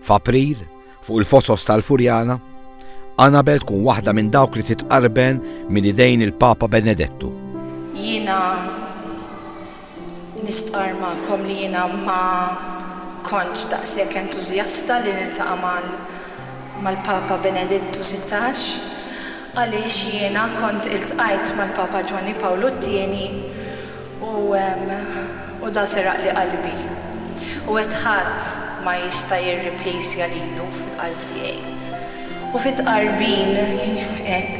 F'April, fuq il-fosos tal-Furjana, Annabel tkun waħda minn dawk li titqarben minn idejn il-Papa Benedettu. Jina nistqar ma'kom li jina ma konċ daqsek entuzjasta li niltaqa' mal-Papa Benedettu 16 għaliex jiena kont iltqajt mal-Papa Ġwanni Pawlu t-tieni U, u dan seraqli qalbi. U għedt ħadd ma jista' jirriplejsja lilu fil-qalb tiegħi. U fi tqarbin hekk,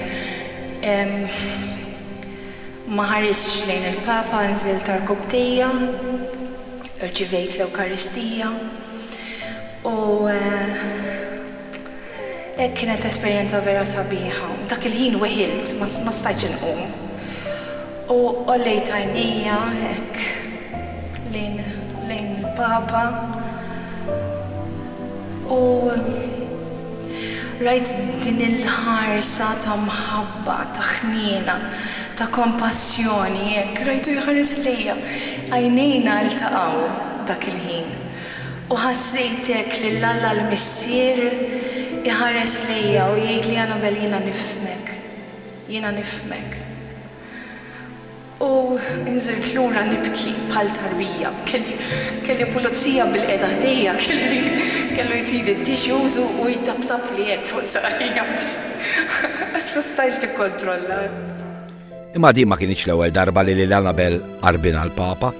ma ħaristx lejn il-Papa, nżilt għarkupptejja, rċivejt l-Ewkaristija, u, Kienet esperjenza vera sabiħa. Dak il-ħin weħilt, ma stajtx inqum. U għollejt għajnejja hekk lejn il-Papa u rajt din il-ħarsa ta' mħabba, ta' ħniena, ta' kompassjoni hekk. Rajtu jħares lejja. Għajnejna ltaqgħu dak il-ħin. U ħassejt hekk lil Alla l-Missier iħares lejja u jgħidli, Annabelle, jiena nifhmek. Jiena nifhmek. U nżilt lura nibki bħal tarbija. Kelli, kelli pulizija bilqiegħda ħdejja, kellu, kellu jtili t-tissues u, u jtaptapli hekk fuq saqajja biex, għax ma stajtx nikkontrolla. Imma din ma kinitx l-ewwel darba li lil Annabel qarbilna l-Papa.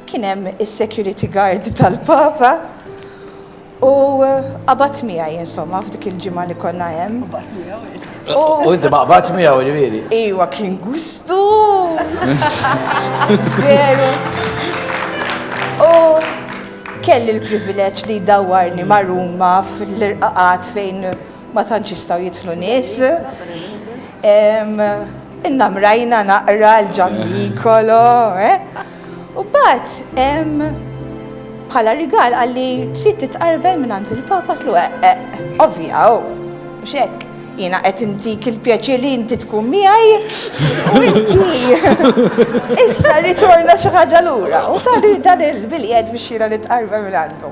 Kien hemm is-security guard tal-Papa u qabad miegħi insomma f'dik il-ġimgħa li konna hemm. Qabad miegħu? U inti ma qabadx miegħu ġifieri? Iwa kien gustu! Veru. U kelli l-privileġġ li jdawwarni ma' Ruma fl-irqaqat fejn Ma tantx jistgħu jidħlu nies. Inna mrajna naqra l-Ġan Nikolo, eh? U bat, bħala rigal għalli trid titqarbel minn għand il-Papa tlu eh, eh, ovvja, u oh, xek. Jina qed intik il-pjaċir li inti tkun miegħi u inti. Issa ritorna xi ħaġa lura u tali dan il-biljed biex jiena nitqarbel minn għandu.